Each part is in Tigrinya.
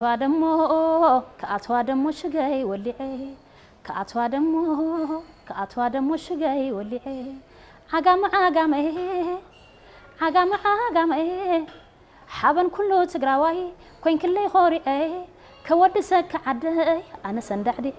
ክኣትዋ ደሞ ክኣትዋ ደሞ ሽገይ ወሊዐ ክኣትዋ ደሞ ክኣትዋ ደሞ ሽገይ ወሊዐ ዓጋመ ዓጋመ ዓጋመ ዓጋመ ሓበን ኩሉ ትግራዋይ ኮይንክለይ ኾሪዐ ከወድሰኪ ዓደይ ኣነሰ እንዳዕዲዐ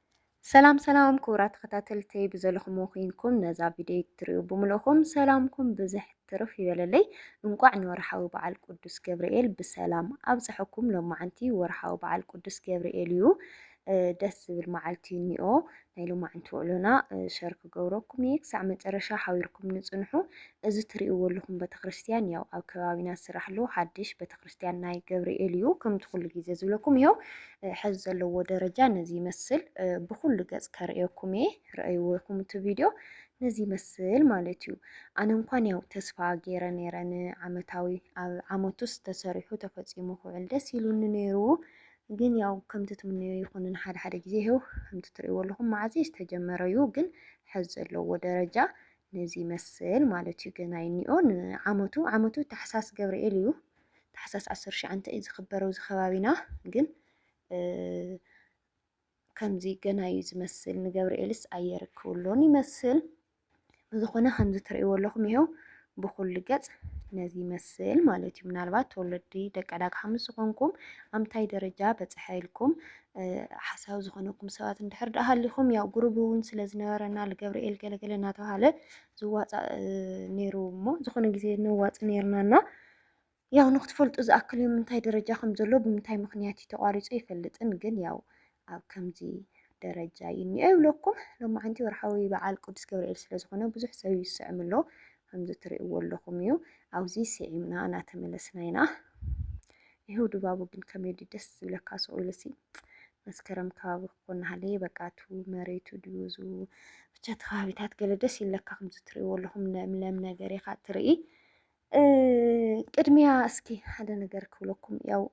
ሰላም ሰላም ክቡራ ተኸታተልተይ ብዘለኹም ኮይንኩም ነዛ ቪድዮ ትሪኡ ብምልእኹም ሰላምኩም ብዝሕ ትርፍ ይበለለይ። እንቋዕ ንወርሓዊ በዓል ቅዱስ ገብርኤል ብሰላም ኣብፀሐኩም። ሎማዓንቲ ወርሓዊ በዓል ቅዱስ ገብርኤል እዩ። ደስ ዝብል መዓልቲ እኒኦ ናይ ሎማዓንቲ ውዕሎና ሸር ክገብረኩም እየ። ክሳዕ መጨረሻ ሓቢርኩም ንፅንሑ። እዚ ትሪእዎ ኣለኹም ቤተክርስትያን ያው ኣብ ከባቢና ዝስራሕ ኣሎ ሓድሽ ቤተክርስትያን ናይ ገብርኤል እዩ። ከምቲ ኩሉ ግዜ ዝብለኩም ይኸው ሐዚ ዘለዎ ደረጃ ነዚ ይመስል ብኩሉ ገፅ ከርእየኩም እየ ረእይዎ ኢኩም እቲ ቪድዮ ነዚ ይመስል ማለት እዩ ኣነ እንኳን ያው ተስፋ ገይረ ነይረ ንዓመታዊ ኣብ ዓመቱስ ተሰሪሑ ተፈፂሙ ክውዕል ደስ ኢሉኒ ነይሩ ግን ያው ከምቲ ትምነዮ ይኹንን ሓደ ሓደ ግዜ ይኸው ከምቲ ትርእይዎ ኣለኹም መዓዘ ዝተጀመረ እዩ ግን ሐዚ ዘለዎ ደረጃ ነዚ ይመስል ማለት እዩ። ገና ይኒኦ ንዓመቱ ዓመቱ ታሕሳስ ገብርኤል እዩ ታሕሳስ ዓሰርተ ሸዓንተ እዩ ዝኽበረው እዚ ከባቢና ግን ከምዚ ገና እዩ ዝመስል ንገብርኤልስ ኣየርክብሎን ይመስል ብዝኾነ ከምዚ ትርእይዎ ኣለኹም ይሄው ብኩሉ ገጽ ነዚ ይመስል ማለት እዩ ምናልባት ተወለዲ ደቂ ዕዳጋ ሓሙስ ዝኾንኩም ኣምታይ ደረጃ በፅሐ ኢልኩም ሓሳዊ ዝኾነኩም ሰባት እንድሕር ደኣ ሃሊኹም ያው ጉሩብ እውን ስለ ዝነበረና ልገብርኤል ገለገለ እናተባሃለ ዝዋፃእ ነይሩ እሞ ዝኾነ ግዜ ነዋፅ ነይርናና ያው ንክትፈልጡ ዝኣክል እዩ ምንታይ ደረጃ ከም ዘሎ ብምንታይ ምክንያት እዩ ተቋሪፁ ይፈልጥን ግን ያው ኣብ ከምዚ ደረጃ እዩ እኒኦ ይብለኩም ሎማዓንቲ ወርሓዊ በዓል ቅዱስ ገብርኤል ስለ ዝኾነ ብዙሕ ሰብ እዩ ዝስዕም ኣሎ ከምዚ ትርእይዎ ኣለኹም እዩ ኣብዚ ስዒምና እናተመለስና ኢና ይህው ድባቡ ግን ከመይ ድዩ ደስ ዝብለካ ስቕ ኢሉሲ መስከረም ከባቢ ክኾን ሃለየ በቃ እቲ መሬቱ ድዩ ዙ ብቻ እቲ ከባቢታት ገለ ደስ ይብለካ ከምዚ ትርእይዎ ኣለኹም ለምለም ነገር ኢኻ ትርኢ ቅድሚያ እስኪ ሓደ ነገር ክብለኩም ያው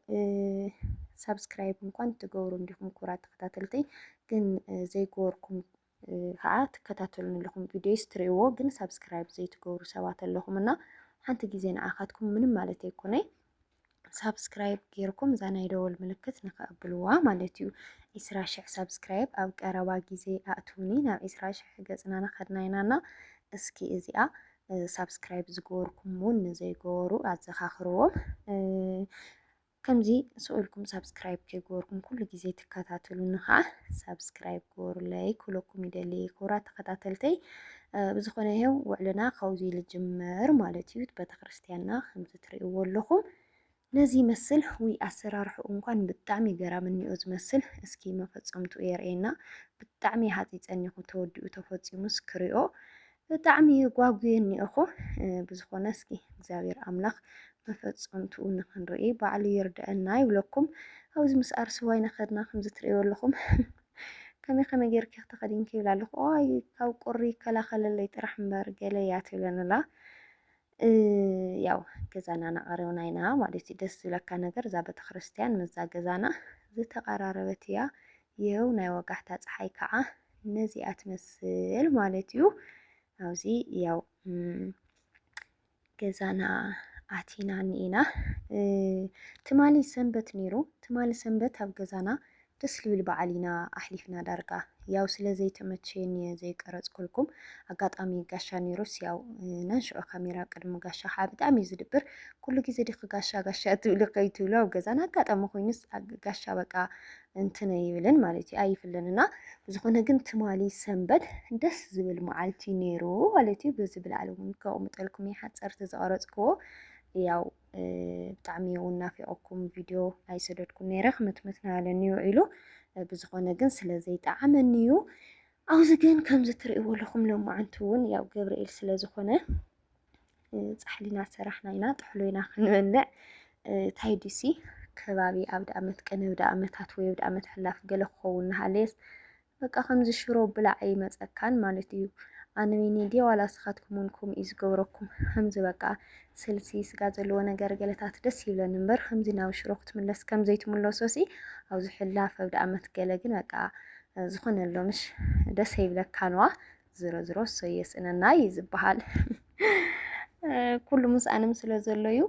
ሳብስክራይብ እንኳን ትገብሩ እንዲኹም ኩራ ተኸታተልቲ ግን ዘይገበርኩም ከዓ ትከታተሉን ኣለኹም ቪድዮ ስትሪዎ ግን ሳብስክራይብ ዘይትገብሩ ሰባት ኣለኹም እና ሓንቲ ግዜ ንዓኻትኩም ምንም ማለት ኣይኮነይ ሳብስክራይብ ጌርኩም እዛ ናይ ደወል ምልክት ንኸኣብልዋ ማለት እዩ። ዒስራ ሽሕ ሳብስክራይብ ኣብ ቀረባ ግዜ ኣእትውኒ ናብ ዒስራ ሽሕ ገጽና ናኸድና ኢናና እስኪ እዚኣ ሳብስክራይብ ዝገበርኩም እውን ንዘይገበሩ ኣዘኻኽርዎም። ከምዚ ስኡልኩም ሳብስክራይብ ከይገበርኩም ኩሉ ግዜ ትከታተሉኒ ከዓ ሳብስክራይብ ገበሩለይ ክብለኩም ይደሊ። ክቡራት ተኸታተልተይ ብዝኾነ ይሄው ውዕልና ካብዚ ልጅምር ማለት እዩ ቤተክርስትያንና ከምዚ ትሪእዎ ኣለኹም ነዚ ይመስል ውይ ኣሰራርሕኡ እንኳን ብጣዕሚ ገራሚ እኒኦ ዝመስል እስኪ መፈፀምትኡ የርእየና ብጣዕሚ ሃፂፀኒኹ ተወዲኡ ተፈፂሙስ ክሪኦ ብጣዕሚ ጓጉየ እኒኦኹ ብዝኾነ እስኪ እግዚኣብሔር ኣምላኽ መፈፀምትኡ ንክንርኢ ባዕሉ ይርድአና ይብለኩም ኣብዚ ምስ ኣርሰዋይ ነኸድና ከምዚ ትሪእዎ ኣለኹም ከመይ ከመይ ጌርኪ ክተኸዲንኪ ይብላ ኣለኹ ኣይ ካብ ቁሪ ይከላኸለለይ ጥራሕ እምበር ገለ እያ ትብለንላ ያው ገዛና ናቐረብና ኢና ማለት እዩ። ደስ ዝብለካ ነገር እዛ ቤተክርስትያን ምስዛ ገዛና ዝተቐራረበት እያ። ይኸው ናይ ወጋሕታ ፀሓይ ከዓ ነዚኣ ትመስል ማለት እዩ። ኣብዚ ያው ገዛና ኣቲና እኒኢና ትማሊ ሰንበት ነይሩ። ትማሊ ሰንበት ኣብ ገዛና ደስ ልብል በዓል ኢና ኣሕሊፍና ዳርጋ ያው ስለ ዘይተመቸየኒ እየ ዘይቀረጽኩልኩም ኣጋጣሚ ጋሻ ነይሩስ ያው ናንሽዑ ካሜራ ኣብ ቅድሚ ጋሻ ከዓ ብጣዕሚ እዩ ዝድብር ኩሉ ግዜ ድክ ጋሻ ጋሻ ትብሉ ከይትብሉ ኣብ ገዛን ኣጋጣሚ ኮይኑስ ጋሻ በቃ እንትን ኣይብልን ማለት እዩ ኣይፍልን እና ዝኾነ ግን ትማሊ ሰንበት ደስ ዝብል መዓልቲ ነይሩ ማለት እዩ። በዚ ብላዕሊ እውን ከቕምጠልኩም ይሓፀርቲ ዝቐረፅክዎ ያው ብጣዕሚ እውን ናፊቐኩም ቪድዮ ኣይሰደድኩን ነይረ ክምትምት ናበለኒ እዩ ውዒሉ ብዝኾነ ግን ስለ ዘይጠዓመኒ እዩ ኣብዚ ግን ከምዚ ትርእይዎ ኣለኹም ሎማዓንቲ እውን ያው ገብርኤል ስለ ዝኾነ ፃሕሊና ሰራሕና ኢና ጥሕሎ ኢና ክንበልዕ እንታይ ድሲ ከባቢ ኣብ ደኣመት ቀነ ኣብ ደኣመታት ወይ ኣብ ደኣመት ሕላፍ ገለ ክኸውን ንሃለየስ በቃ ከምዚ ሽሮ ብላዕ ኣይመጸካን ማለት እዩ ኣነዊኒ ድየ ዋላ ንስካትኩም ውን ከምኡ እዩ ዝገብረኩም ከምዚ በቃ ስልሲ ስጋ ዘለዎ ነገር ገለታት ደስ ይብለኒ እምበር ከምዚ ናብ ሽሮ ክትምለስ ከም ዘይትምለሶሲ ኣብዚ ሕላፍ ኣብ ድኣመት ገለ ግን በቃ ዝኾነ ኣሎ ምሽ ደስ ኣይብለካን ዋ ዝሮ ዝሮ እሰይ የስእነና እዩ ዝበሃል ኩሉ ምስኣንም ስለ ዘሎ እዩ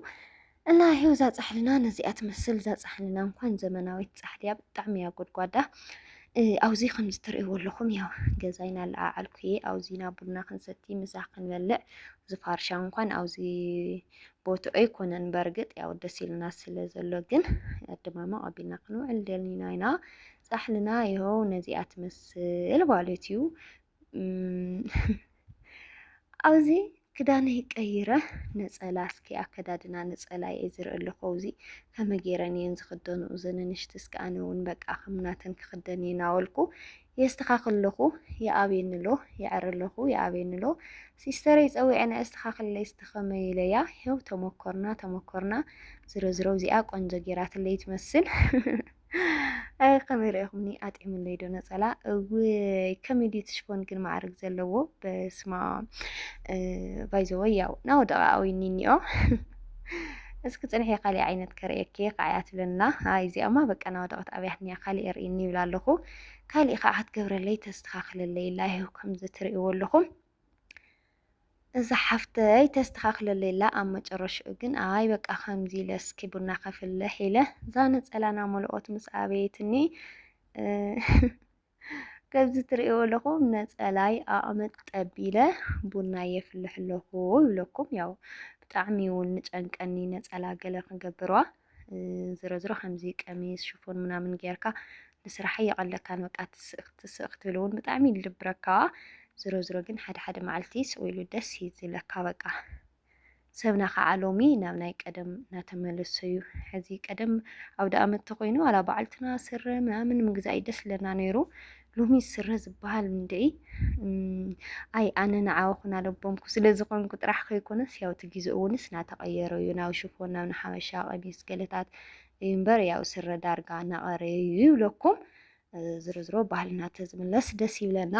እና ይሄው እዛ ፃሕልና ነዚኣ ትመስል እዛ ፃሕልና እንኳን ዘመናዊት ፃሕሊ እያ ብጣዕሚ እያ ጎድጓዳ ኣብዚ ከምዚ ትርእይዎ ኣለኹም ያው ገዛይ ናለዓዓልኩ እየ ኣብዚ ናብ ቡና ክንሰቲ ምሳ ክንበልዕ ዝፋርሻ እንኳን ኣብዚ ቦቱ ኣይኮነን በርግጥ ያው ደስ ኢልና ስለ ዘሎ ግን ድማ ኣቢልና ክንውዕል ደሊና ኢና ፃሕልና ይኸው ነዚኣ ትመስል ማለት እዩ ኣብዚ ክዳነይ ቀይረ ነፀላ እስኪ ኣከዳድና ነፀላ እየ ዝርኢ ኣለኹ ኣብዚ ከመይ ገይረን እየን ዝኽደኑ እዘን ንእሽቲ እስኪ ኣነ እውን በቃ ከምናተን ክኽደን እየ ናበልኩ የስተኻኽል ኣለኹ ይኣብየኒ ኣሎ ይዕሪ ኣለኹ ይኣብየኒ ኣሎ ሲስተረይ ፀዊዐን ኣስተኻኽለይ እስቲ ከመይ ኢለያ ይኸው ተመኮርና ተመኮርና ዝሮ ዝሮ እዚኣ ቆንጆ ገይራትለይ ትመስል ኣይ ከመይ ርኢኹምኒ ኣጥዕምለይ ዶ ነፀላ እውይ ከመይ ድዩ ትሽፎን ግን ማዕርግ ዘለዎ በስማ ባይዘወይ ያው ናው ደቃዊ ኒኒኦ እስኪ ፅንሒ ካሊእ ዓይነት ከርእየኪ ከዓያ ትብለና ኣይ እዚኣማ በቃ ናው ደቀት ኣብያትኒያ ካሊእ የርእኒ ይብላ ኣለኹ ካሊእ ከዓ ክትገብረለይ ተስተካክለለይ ላይሁ ከምዚ ትርእይዎ ኣለኹም እዛ ሓፍተይ ተስተኻኽለለይ ኣላ ኣብ መጨረሽኡ ግን ኣይ በቃ ከምዚ ኢለ እስኪ ቡና ከፍልሕ ኢለ እዛ ነፀላ ናመልኦት ምስ ኣበየትኒ ከምዚ ትርእይዎ ኣለኹም ነፀላይ ኣቕመጥ ጠቢለ ቡና የፍልሕ ኣለኹ ይብለኩም። ያው ብጣዕሚ እውን ንጨንቀኒ ነፀላ ገለ ክገብርዋ ዝሮዝሮ ከምዚ ቀሚስ ሽፎን ምናምን ጌርካ ንስራሕ ኣይቐለካን በቃ ትስእ ክትስእ ክትብል እውን ብጣዕሚ እዩ ዝድብረካ ዝሮ ዝሮ ግን ሓደ ሓደ መዓልቲ ስቕ ኢሉ ደስ እዩ ዝብለካ በቃ ሰብና ከዓ ሎሚ ናብ ናይ ቀደም እናተመለሱ እዩ ሕዚ ቀደም ኣውደ ኣመት ተኮይኑ ዋላ በዓልትና ስረ ምናምን ምግዛእ እዩ ደስ ለና ነይሩ ሎሚ ስረ ዝበሃል እንድዒ ኣይ ኣነ ንዓኹን ኣለቦምኩ ስለ ዝኾንኩ ጥራሕ ከይኮነስ ያው እቲ ግዜ እውንስ እናተቐየረ እዩ ናብ ሽፎን ናብ ንሓበሻ ቀሚስ ገለታት እዩ እምበር ያው ስረ ዳርጋ እናቐረየ እዩ ይብለኩም። ዝሮ ዝሮ ባህልና ተዝምለስ ደስ ይብለና።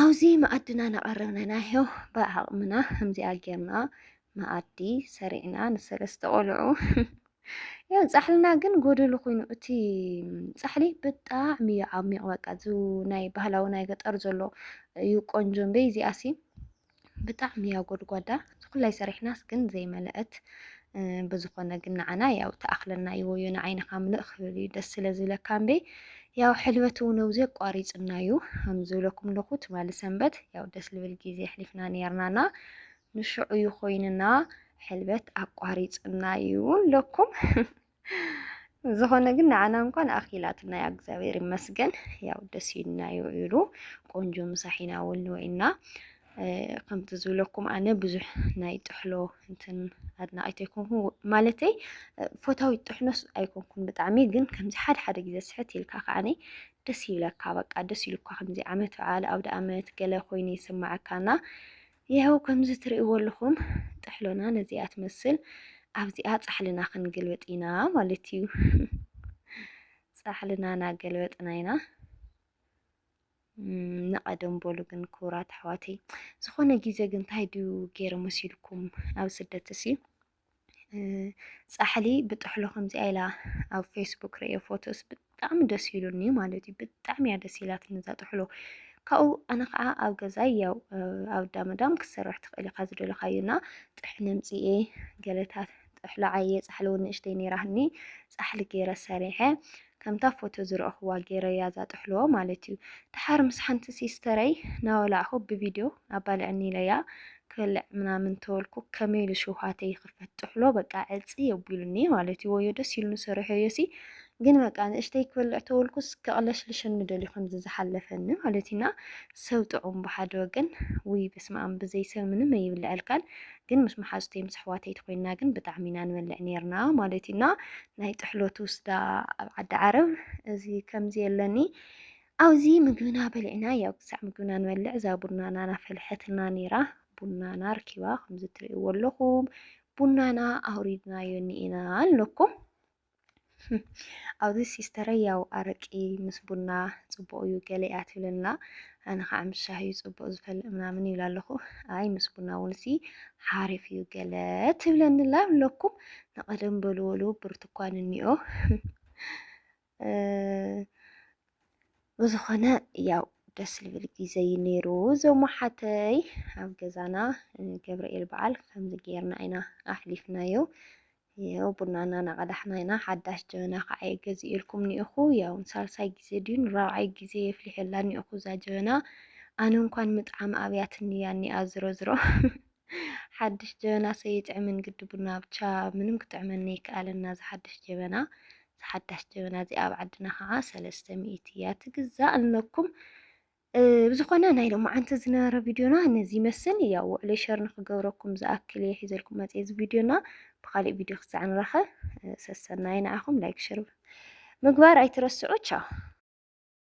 ኣብዚ መኣድና ናቐረብና ናዮ ብዓቕምና ከምዚኣ ጌርና መኣዲ ሰሪዕና ንሰለስተ ቆልዑ ያው ጻሕልና ግን ጎደሉ ኮይኑ እቲ ጻሕሊ ብጣዕሚ እዩ ዓሚቕ በቃ እዚ ናይ ባህላዊ ናይ ገጠር ዘሎ እዩ ቆንጆ እምበይ እዚኣሲ ብጣዕሚ እያ ጎድጓዳ ዝኩላይ ሰሪሕናስ ግን ዘይመለአት ብዝኾነ ግን ንዓና ያው ተኣኽለና እዩ ወዮ ንዓይንኻ ምልእ ክብል እዩ ደስ ስለ ዝብለካ እምበይ ያው ሕልበት እውን ኣብዚ ኣቋሪፅና እዩ ከምዝብለኩም ኣለኹ ትማሊ ሰንበት ያው ደስ ልብል ግዜ ኣሕሊፍና ነርናና ንሽዑ እዩ ኮይንና ሕልበት ኣቋሪፅና እዩ ለኩም ዝኾነ ግን ንዓና እንኳን ኣኺላትና ያ እግዚኣብሔር ይመስገን። ያው ደስ ኢልና እዩ ኢሉ ቆንጆ ምሳሕ ኢና እውን ወይና ከምቲ ዝብለኩም ኣነ ብዙሕ ናይ ጥሕሎ እንትን ኣድናቂት ኣይኮንኩን ማለተይ ፎታዊ ጥሕኖስ ኣይኮንኩን ብጣዕሚ ግን ከምዚ ሓደ ሓደ ግዜ ስሕት ኢልካ ከዓኒ ደስ ይብለካ በቃ ደስ ኢሉካ ከምዚ ዓመት በዓል ኣውደ ኣመት ገለ ኮይኑ ይስማዓካና ይሀው ከምዚ ትርእይዎ ኣለኹም ጥሕሎና ነዚኣ ትመስል ኣብዚኣ ጻሕልና ክንግልብጥ ኢና ማለት እዩ። ጻሕልና ናገልበጥና ኢና። ንቐደም በሉ ግን ክቡራት ኣሕዋተይ ዝኾነ ግዜ ግን እንታይ ድዩ ገይረ መሲልኩም ኣብ ስደት እሲ ፃሕሊ ብጥሕሎ ከምዚኣ ኢላ ኣብ ፌስቡክ ርእየ ፎቶስ ብጣዕሚ ደስ ኢሉኒ ማለት እዩ። ብጣዕሚ እያ ደስ ኢላትኒ እዛ ጥሕሎ። ካብኡ ኣነ ከዓ ኣብ ገዛይ ያው ኣብ ዳመዳም ክሰርሕ ትኽእል ኢኻ ዝደለኻዮ እና ጥሕኒ ኣምፅኤ ገለታት ጥሕሎ ዓየ ፃሕሊ እውን ንእሽተይ ነይራትኒ ፃሕሊ ገይረ ሰሪሐ ከምታ ፎቶ ዝረእኹዋ ጌረያ እዛ ጥሕሎ ማለት እዩ ደሓር ምስ ሓንቲ ሲስተረይ ናወላዕኹ ብቪድዮ ኣባልዕኒ ኢለያ ክበልዕ ምናምን ተወልኩ ከመይ ኢሉ ሽውሃተይ ይኽፈት ጥሕሎ በቃ ዕጽ የቢሉኒ ማለት እዩ ወዮ ደስ ኢሉኒ ሰሪሖዮሲ ግን በቃ ንእሽተይ ክበልዕ ተወልኩስ ከቕለሽልሸኒ ደልዩ ከምዚ ዝሓለፈኒ ማለት እዩና ሰብ ጥዑም ብሓደ ወገን ውይ በስመኣም ብዘይ ሰብ ምንም ኣይብልዐልካን ግን ምስ መሓዙተይ ምስ ኣሕዋተይ ተኮይንና ግን ብጣዕሚ ኢና ንበልዕ ኔርና ማለት እዩ እና ናይ ጥሕሎት ውስዳ ኣብ ዓዲ ዓረብ እዚ ከምዚ የለኒ ኣብዚ ምግብና በሊዕና ያው ክሳዕ ምግብና ንበልዕ እዛ ቡናና ናፈልሐትና ኔራ ቡናና ርኪባ ከምዚ ትርእይዎ ኣለኹም ቡናና ኣውሪድናዮ እኒኤና ኣለኩም ኣብዚ ሲስተረይ ያው ኣረቂ ምስ ቡና ጽቡቕ እዩ ገለ እያ ትብለና ኣነ ከዓ ምስ ሻሂ እዩ ጽቡቕ ዝፈልእ ምናምን ይብላ ኣለኹ ኣይ ምስ ቡና እውን ሲ ሓሪፍ እዩ ገለ ትብለኒ ላ ኣለኩም ንቐደም በልወሉ ብርትኳን እኒኦ ብዝኾነ ያው ደስ ዝብል ግዜ እዩ ነይሩ እዞም ሓተይ ኣብ ገዛና ገብርኤል በዓል ከምዚ ጌርና ኢና ኣሕሊፍናዮ ያው ቡናና ናቀዳሕና ኢና ሓዳሽ ጀበና ካዓየ ገዚኤልኩም ኒኤኹ ያው ንሳልሳይ ግዜ ድዩ ንራብዓይ ግዜ የፍሊሐላ ኒኤኹ እዛ ጀበና ኣነ እንኳን ምጥዓም ኣብያትኒ እያ ኒኣ ዝሮዝሮ ሓድሽ ጀበና ሰይጥዕምን ግዲ ቡና ብቻ ምንም ክጥዕመኒ ኣይከኣለና ዝሓድሽ ጀበና ዝሓዳሽ ጀበና እዚኣ ኣብ ዓድና ከዓ ሰለስተ ሚእቲ እያ ትግዛእ ኣለኩም ብዝኾነ ናይ ሎማዓንቲ ዝነበረ ቪድዮና ነዚ ይመስል ያው ውዕለይ ሸር ንክገብረኩም ዝኣክል እየ ሒዘልኩም መፅየ እዚ ቪድዮና ብካሊእ ቪድዮ ክሳዕ ንራኸብ ሰሰናይ ንዓኹም ላይክ ሸር ምግባር ኣይትረስዑ ቻው